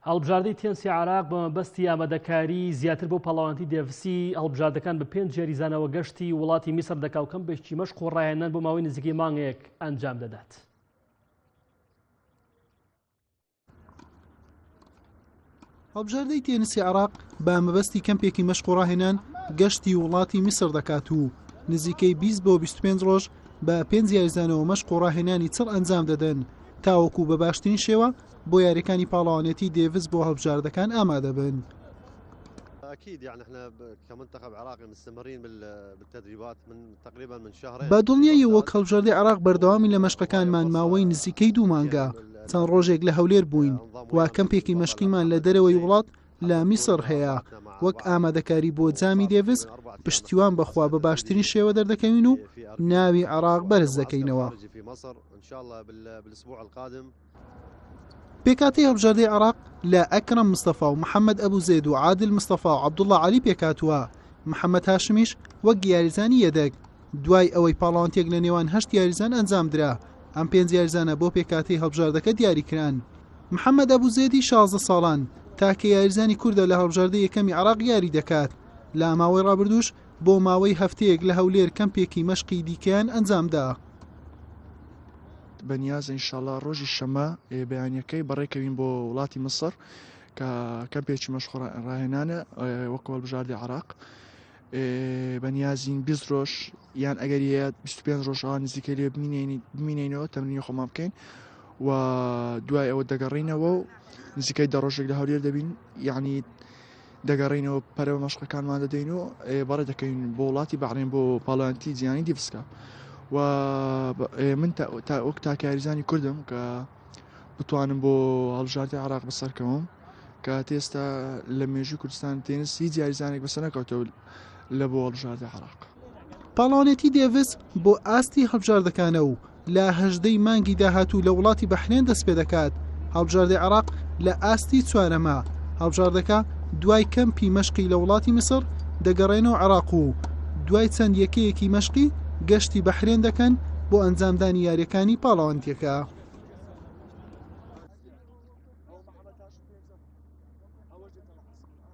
هەڵبژاردەی تێنسی عێراق بە مەبەستی ئامادەکاری زیاتر بۆ پاڵەوانتی دێڤسی هەڵبژاردەکان بە پێنج یاریزانەوە گەشتی وڵاتی میسر دەکا و کەم بەشتی مەشق و ڕاهێنان بۆ ماوەی نزیکەی مانگێک ئەنجام دەدات. هەڵبژاردەی تێنسی عراق بە مەبەستی کەمپێکی مەشق و ڕاهێنان گەشتی وڵاتی میسر دەکات و نزیکەی 20 بۆ 25 ڕۆژ بە پێنج یاریزانەوە مەشق و ڕاهێنانی چڕ ئەنجام دەدەن تاوەکو بە باشترین شێوە بۆ یاریەکانی پاڵەوانێتی دێڤس بۆ هەڵبژاردەکان ئامادەبن. بە دڵنیایی وەک هەڵبژاردی عراق بەردەوامی لە مەشقەکانمان ماوەی نزیکەی دوو مانگە چەند ڕۆژێک لە هەولێر بووین وا کەمپێکی مەشقیمان لە دەرەوەی وڵات لە میسر هەیە وەک ئامادەکاری بۆ جامی دێڤس پشتیوان بەخوا بە باشترین شێوە دەردەکەوین و ناوی عراق بەرز دەکەینەوە. پێکهاتەی هەڵبژاردەی عێراق لە ئەکرەم مستەفا و محەممەد ئەبوو زێد و عادل مستەفا و عەبدوڵڵا عەلی پێکهاتووە محەممەد هاشمیش وەک یاریزانی یەدەگ دوای ئەوەی پاڵاوانتێک لە نێوان هەشت یاریزان ئەنجام درا ئەم پێنج یاریزانە بۆ پێکاتی هەڵبژاردەکە دیاریکران محەممەد ئەبوو زێدی 16 ساڵان تاکە یاریزانی کوردە لە هەڵبژاردە یەکەمی عراق یاری دەکات لە ماوەی ڕابردوش بۆ ماوەی هەفتەیەک لە هەولێر کەمپێکی مەشقی دیکەیان ئەنجامدا. بەنیازە ئینشاڵا ڕۆژی شەمە بەیانیەکەی بەڕێکەوین بۆ وڵاتی مسڕ کە کەمپێکی مەشخۆڕ ڕاهێنانە وەک هەڵبژاردی عراق بەنیازین بیست ڕۆژ یان ئەگەر هەیە 25 ڕۆژەوە نزیکە لێ بمینینەوە تەمرینی خۆمان بکەین و دوای ئەوە دەگەڕینەوە و نزیکای دە ڕۆژێک لە هەولێر دەبین یعنی دەگەڕێینەوە پەرەوە مەشقەکانمان دەدەین و بەڕێ دەکەین بۆ وڵاتی بەڕێن بۆ پاڵانتی جیانی دیفسکە و من تا ئۆک تاکاریزانی کردم کە بتوانم بۆ هەڵبژاردە عراق بەسەرکەوم کە تێستا لە مێژوی کوردستان تێنس هیچ یاریزانێک بەسەر نەکەوتەوە لە بۆ هەڵبژاردەی عێراق. پاڵەوانێتی دێڤس بۆ ئاستی هەڵبژاردەکانە و لە هەژدەی مانگی داهاتوو لە وڵاتی بەحرێن دەست پێ دەکات هەڵبژاردەی عێراق لە ئاستی چوارەمە هەڵبژاردەکە دوای کەمپی مەشقی لە وڵاتی میسر دەگەڕێنەوە عێراق و دوای چەند یەکەیەکی مەشقی گەشتی بەحرێن دەکەن بۆ ئەنجامدانی یاریەکانی پاڵەوانتیەکە.